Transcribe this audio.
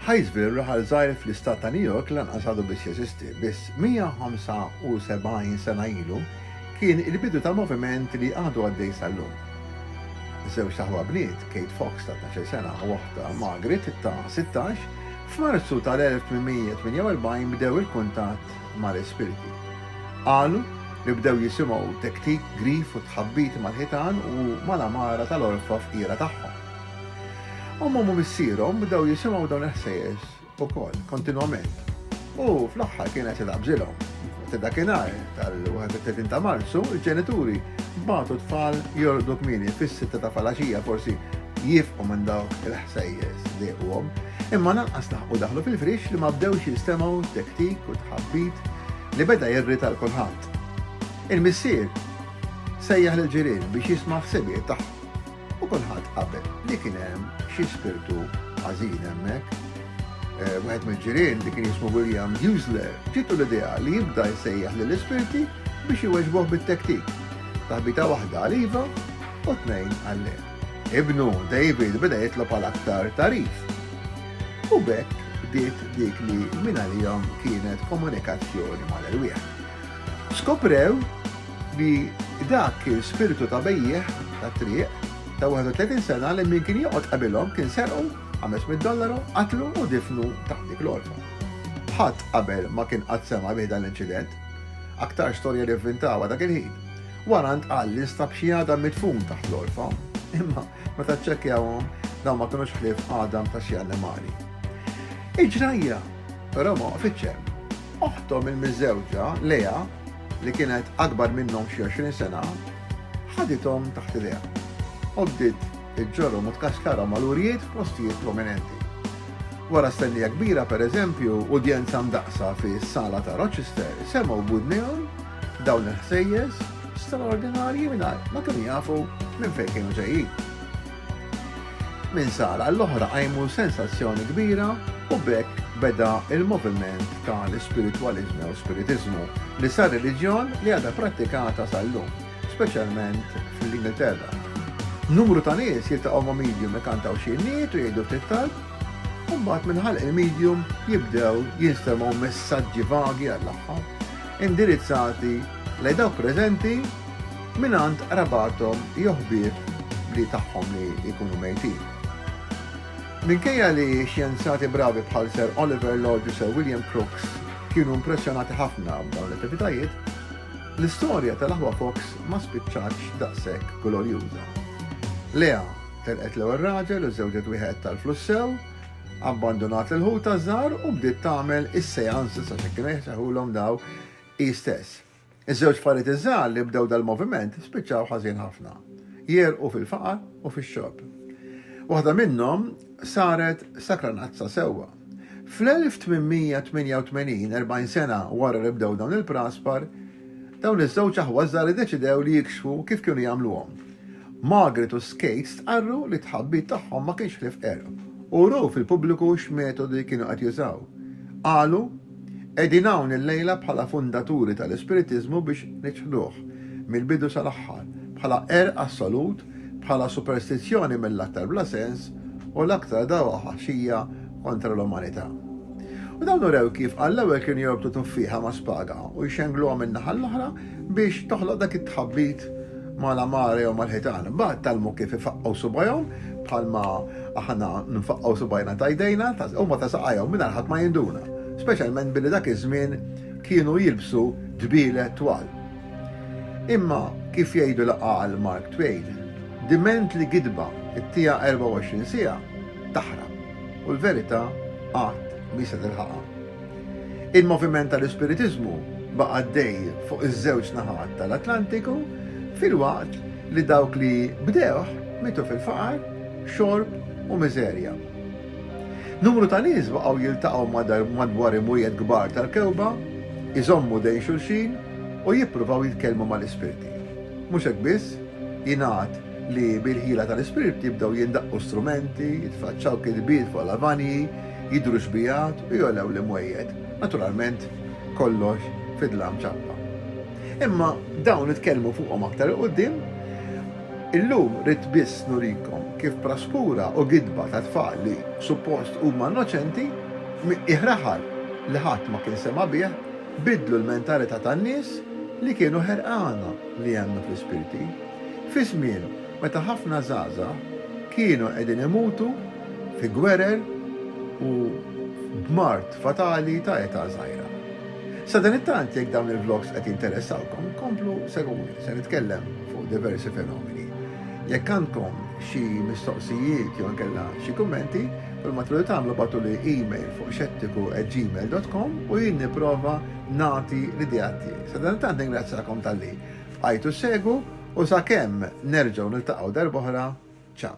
Hyattsville, raħal żgħir fl-Istat ta' New York, lanqas għadu biss jeżisti. Biss 175 sena ilu kien il-bidu ta' moviment li għadu għaddej sal-lum. Żewġt aħwa bniet, Kate Fox ta' tnax-il sena u oħtha Margaret ta' sittax, f'Marzu tal-1848 bdew il-kuntatt mal-ispirti. Qalu li bdew jisimgħu tektik, grif u tħabbit mal-ħitan u mal-għamara tal-għorfa fqira tagħhom. Ommhom u missierhom bdew jisimgħu dawn il-ħsejjes ukoll, kontinwament. U fl-aħħar kien qed jitgħabbżilhom. Sa dakinhar tal-31 ta' Marzu, il-ġenituri bagħtu t-tfal jorqdu kmieni fis-sitta ta' falaxija forsi jifqu minn dawk il-ħsejjes li dejquhom. Imma lanqas laħqu daħlu fil-friex li ma bdewx jistemgħu t-tektik u t-tħabbit li beda jirrita 'l kulħadd. Il-missier sejjaħ lill-ġirien biex jisma' ħsibijiet tagħhom. U kulħadd qabel li kien hemm xi spirtu ħażin hemmhekk. Eh, wieħed mill-ġirien li kien jismu William Husler ġitu l-idea li jibda jsejjaħ lill ispirti biex iweġbuh bit-tektik. Taħbita waħda għaliva u tnejn għalle. Ibnu David beda jitlob għal aktar tarif. U bekk bdiet dik li minn għalihom kienet komunikazzjoni mal-erwieħ. Skoprew li dak kien spiritu ta' bejjiegħ tat-triq ta' 31 sena li min kien joqgħod qabilhom kien serqu 500 dollaru, qatlu u difnu taħt dik l-għorfa. Ħadd qabel ma kien qatt sema' bih dan l-inċident. Aktar storja li vvintawha dak il-ħin. Wara ntqal li nstab xi għadam midfun taħt l-għorfa, imma meta ċċekkjawhom dawn ma kinux ħlief għadam ta' xi annimali. Il-ġrajja Però ma waqfitx hemm. Oħthom il-miżżewġa, Lea, li kienet akbar minnhom xi 20 sena, ħadithom taħt idejha u bdiet iġġorhom u tkaxkarhom għal urjiet f'postijiet prominenti. Wara stennija kbira, per eżempju, udjenza mdaqsa fi sala ta' Rochester, semgħu budnejhom dawn il-ħsejjes straordinarji mingħajr ma kienu jafu minn fejn kienu ġejjin. Minn sala għall-oħra qajmu sensazzjoni kbira u b'hekk beda l-moviment ta' l-ispiritwaliżmu jew spiritiżmu li sar reliġjon li għadha prattikata sal-lum, speċjalment fl-Ingilterra. Numru ta' nies jiltaqgħu ma' medium ikantaw xi għinnijiet u jgħidu ftit talb, u mbagħad minn ħalq il-medium jibdew jinstemgħu messaġġi vagi għall-aħħar, indirizzati lejn dawk preżenti, Mingħand qrabathom jew ħbieb li tagħhom li jkunu mejtin. Minkejja li xjenzati bravi bħal Sir Oliver Lodge u Sir William Crookes kienu impressjonati ħafna b'dawn l-attivitajiet, l-istorja tal-aħwa Fox ma spiċċatx daqshekk glorjuża. Lea telqet l-ewwel raġel u żewġet wieħed tal-flussew, abbandunat lil ħutha żgħar u bdiet tagħmel is-seances għax hekk kienu jseħħulhom daw hi stess. Iż-żewġ parijiet iż-żgħar li bdew dal-moviment spiċċaw ħażin ħafna, jegħrqu fil-faqar u fix-xogħol. Waħda minnhom saret sakranazza sewwa. Fl-1888, erbgħin sena wara li bdew dawn il-praspar, dawn iż-żewġ aħwa żgħar iddeċidew li jikxfu kif kienu jagħmluhom. Margaret u Skate stqarru li t-tħabbit tagħhom ma kienx ħlief qerq u wrew fil-pubbliku x'metodi kienu qed jużaw. Qalu, Qegħdin hawn illejla bħala fundaturi tal-Ispiritiżmu biex niċħduh, mill-bidu sal-aħħar, bħala qerq assolut, bħala superstizzjoni mill-aktar bla sens u l-aktar dawaħaxija kontra l-umanità. U dawn urew kif għall-ewwel kienu jorbtu tuffieħa ma' spaga u jxengluha min-naħa l-oħra, biex toħloq dak it-tħabbit ma' la mare jew mal-ħitan. Mbagħad tgħallmu kif ifaqqgħu subgħajhom bħalma aħna nfaqqgħu subgħajna ta' jdejna, huma ta' saqajhom mingħajr ħadd ma jinduna, speċjalment billi dak iż-żmien kienu jilbsu dbielet twal. Imma kif jgħidu l-għaqal Mark Twain, diment li gidba t-tiegħha 24 siegħa taħrab u l-verità qatt mhi se tilħaqha. Il-moviment tal-ispiritiżmu baqa' għaddej fuq iż-żewġ naħat tal-Atlantiku filwaqt li dawk li bdewh mietu fil-faqar, xorb u miżerja. Numru ta' nies baqgħu jiltaqgħu madwar imwiegħed kbar tal-kewba, iżommu dejn xulxin u jippruvaw jitkellmu mal-ispirti. Mhux hekk biss, jingħad li bil-ħila tal-ispirti bdew jindaqqu strumenti, jitfaċċaw kitbiet fuq lavanji, Jidhru xbigħat u jogħlew l-imwejjed, naturalment kollox fid-dlam ċappa. Imma dawn nitkellmu fuqhom aktar 'il quddiem. Illum ridt biss nurikom kif praskura u gidba ta' tfal li suppost huma innoċenti, f'miqqiegħ raħal li ħadd ma kien sema' bih, biddlu l-mentalità tan-nies li kienu ħerqana li jemmnu fl-ispirti, fi żmien meta ħafna żgħażagħ kienu qegħdin imutu fi gwerer u b'mard fatali ta' età żgħira. Sadanittant jekk dawn il-vlogs qed jinteressawkom, komplu segwuni, se nitkellem fuq diversi fenomeni. Jekk għandkom xi mistoqsijiet jew inkella xi kummenti, kull ma tridu tagħmlu bagħtuli email fuq xettiku@gmail.com u jien nipprova nagħti l-idea tiegħi. Sadanittant ningrazzjakom talli bqajtu segwu u sakemm nerġgħu niltaqgħu darb'oħra, ciao.